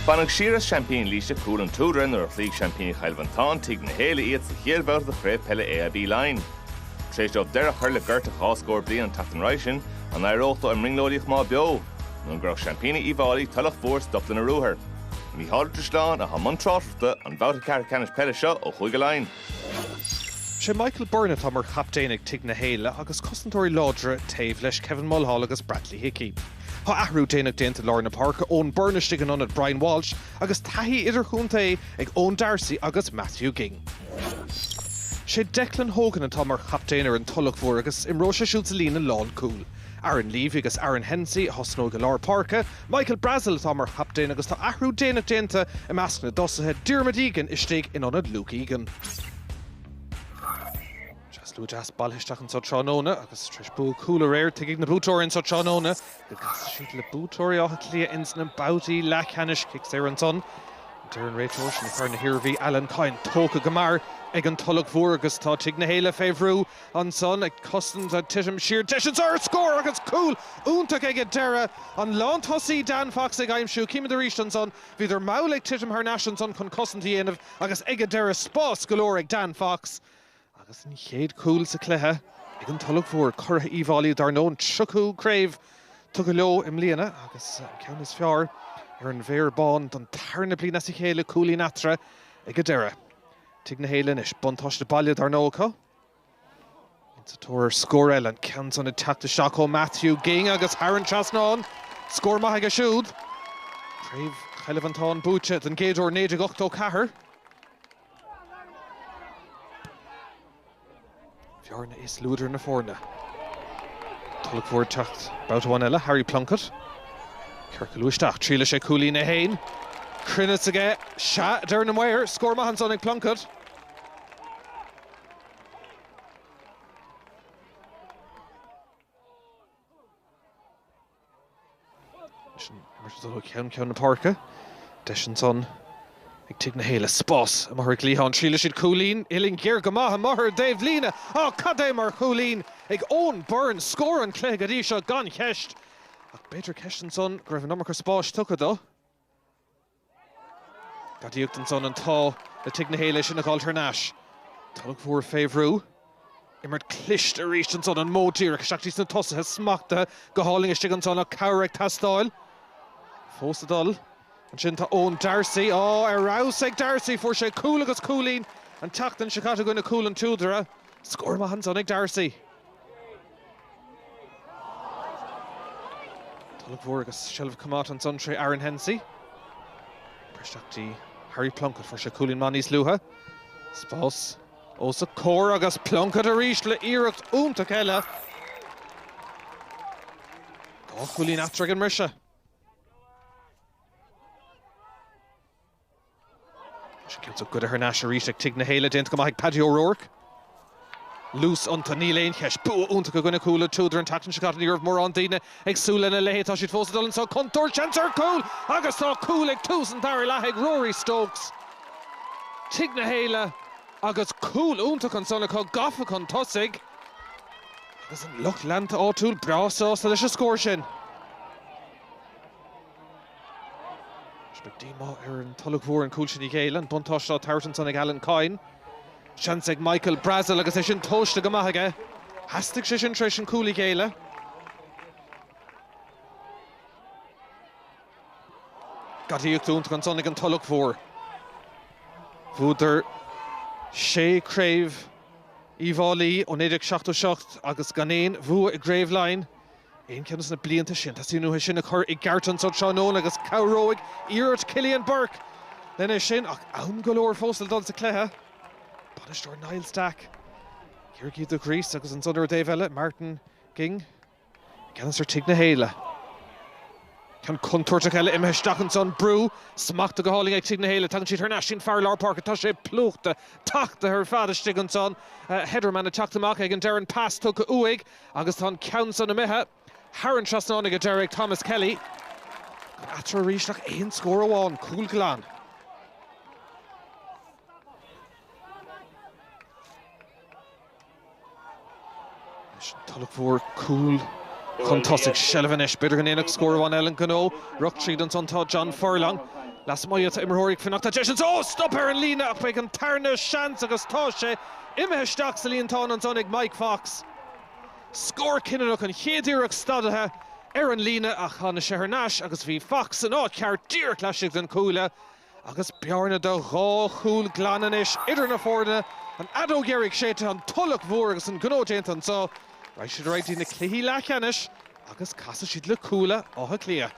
Baineadh siar as seaimpíní Laoise, Cúl an tSúdaire, nuair a chloígh seaimpíní Chill Mhantáin, Tigh na hÉille, iad sa chéad bhabhta de Chraobh Peile AIB Laighean. Tar éis dóibh deireadh a chur le gorta dhá scór bliain an tseachtain roimhe sin, an n-éireodh leo i mbrionglóidíocht a choimeád beo, nó an gcuirfeadh seaimpíní Uíbh Fháilí Tulach Mhór stop lena ruathar? Mícheál Ó Drisleáin atá i mbun tráchtaireachta an bhabhta ceathrú ceannais peile seo ó Chúige Laighean. Sé Michael Byrne atá mar chaptaen ag Tigh na hÉille agus cosantóirí láidre taobh leis, Kevin Mulhall agus Bradley Hickey. Tá athrú déanach déanta i lár na páirce, Eoin Byrne istigh in ionad Brian Walsh agus taithí idirchontae ag Eoin Darcy agus Matthew Ging. Sé Declan Hogan atá mar chaptaen ar an Tulach Mhór agus imreoidh sé siúd sa líne lánchúil. Aaron Leavy agus Aaron Hensey a thosnóidh i lár páirce Michael Brazil atá mar chaptaen agus tá athrú déanach déanta i measc na dtosaithe, Diarmuid Egan istigh in ionad Luke Egan. Slua deas bailithe isteach anseo tráthnóna agus tar éis bua Cuala aréir, tuigfidh na buaiteoirí anseo tráthnóna go gcasfaidh siad le buaiteoirí Átha Cliath ins na babhtaí leathcheannais. Cic saor ansan. Deir an réiteoir as Contae na hIarmhí, Alan Coyne, tógtha go mear ag an Tulach Mhór agus tá Tigh na hÉille fé bhrú Ansan, ag cosaint ag titim siar deis ansan ar scór agus cúl iontach ag an deireadh an lántosaí Dan Fox ag aimsiú. Címid arís ansan, bhíodar mall ag titim thar n-ais ansan chun cosaint a dhéanamh agus ag an deireadh spás go leor ag Dan Fox agus an chéad cúl sa chluiche ag an Tulach Mhór curaidh Uíbh Fháilí dár ndóigh an tríochú craobh tugtha leo i mbliana agus an ceann is fearr ar an bhFéar Bán don tarna bliain as a chéile, cúilín eatarthu ag an deireadh. Tigh na hÉille anois buntáiste baile dár ndóigh acu. Sa tóir scór eile, an ceann san ag teacht isteach ó Matthew Ging agus thar an trasnán. Scór maith aige siúd. Craobh Chill Mhantáin buaite don gcéad uair 1984. Féar Bán is Luadar na foirne. Tulach Mhór ag teacht babhta amháin eile, Harry Plunkett. Ciorcalú isteach, triaileann sé cúilín é fhéin. Cruinneas aige, sea, a deir na maoir. Scór maith ansan ag Plunkett. Ag ceann na páirce, deis ansan ag Tigh na hÉille spás amuigh ar an gcliathán. Triaileann siad cúilín uillinn ghéar go maith amuigh ar an taobhlíne. Á cad é mar chúilín ag Eoin Byrne scór an cluiche go dtí seo gan cheist ach b'fhéidir ceist ansan go raibh an iomarca spáis tugtha dó Gadaíocht ansan an t-ádh le Tigh na hÉille sin a fháil thar n-ais. Tulach Mhór fé bhrú. Imirt cliste arís ansan an modh díreach isteach dtí sna tosaithe smachtaithe go hálainn istigh ansan ach cabhair ag teastáil. Fós ag dul. Ansin tá Eoin D'arcy. Á, ar fheabhas ag D'arcy! Fuair sé cúl agus cúilín an tseachtain seo caite i gcoinne Cúl an tSúdaire. Scór maith ansan ag D'arcy. Tulach Mhór agus seilbh coimeádta ansan trí Aaron Hensey. Briseadh isteach dtí Harry Plunkett, fuair sé cúilín maith níos luaithe. Spás os a comhair agus Plunkett arís le iarracht iontach eile. Dhá chúilín eatarthu ag an mbriseadh. Tá sé cinnte goidte thar n-ais arís ag Tigh na hÉille, déanta go maith ag Paddy O'Rourke. Luas iontu, níl aon cheist. Bua iontach i gcoinne Chúil an tSúdaire an tseachtain seo caite. Ní raibh mórán daoine ag súil lena leithéid. Tá siad fós ag dul anseo. Contúirt, seans ar chúl agus tá cúl ag tús an dara leath ag Rory Stokes Tigh na hÉille agus cúl iontach ansan acu, gafa chun tosaigh. Agus an lucht leanta áitiúil breá sásta leis an scór sin. Anois beidh díomá ar an Tulach Mhór an cúl sin a ghéilleadh, an buntáiste á tabhairt ansan ag Alan Coyne. Seans ag Michael Brazil agus é sin tomhaiste go maith aige. Theastaigh sé sin tar éis an cúl a ghéilleadh. Gadaíocht iontach ansan ag an Tulach Mhór. Bhuadar sé craobh Uíbh Fhailí ó 1977 agus gan aon bhua i gCraobh Laighean. aon cheann de na blianta sin. Tá sin uathu sin a chur i gceart anso tráthnóna agus cabhróidh iarracht Chillian Bourke len é sin ach am go leor fós le dul sa chluiche. Bainisteoir Niall Stack, Ciarraígh de ghríos agus ansan ar an dtaobh eile, Martin Ging i gceannas ar Tigh na hÉille. Ceann contúirteach eile imithe isteach ansan, brú smachta go hálainn ag Tigh na hÉille. Tagann siad thar n-ais dtí an fear lár páirce, tá sé plúchta, tachtaithe ar fad istigh ansan. Hedderman ag teacht amach ag an deireadh, an pas tugtha uaidh. Agus tá an ceann san imithe thar an trasnán ag an deireadh ag Thomas Kelly. Gan eatarthu arís ach aon scór amháin, cúl glan. Leis an Tulach Mhór cúl chun tosaigh. Seilbh anois, b'fhéidir go ndéanfadh scór amháin eile an gnó. Rith tríd ansan tá John Furlong. Lasmuigh tá imreoirí ag fanacht le deis anso! Stop ar an líne ach beidh an tarna seans agus tá sé Imithe isteach sa líontán ansan ag Mike Fox. Scór cinniúnach an chéad iarracht stadaithe ar an líne ach thána sé thar n-ais agus bhí Fox san áit cheart díreach laistigh den chuaille agus bearna de dhá chúl glan anois idir na foirne. An fheadóg dheiridh séidte, an Tulach Mhór agus an gnó déanta anso, raghaidh siad ar aghaidh dtí na cluichí leathcheannais agus casfaidh siad le Cuala Átha Cliath.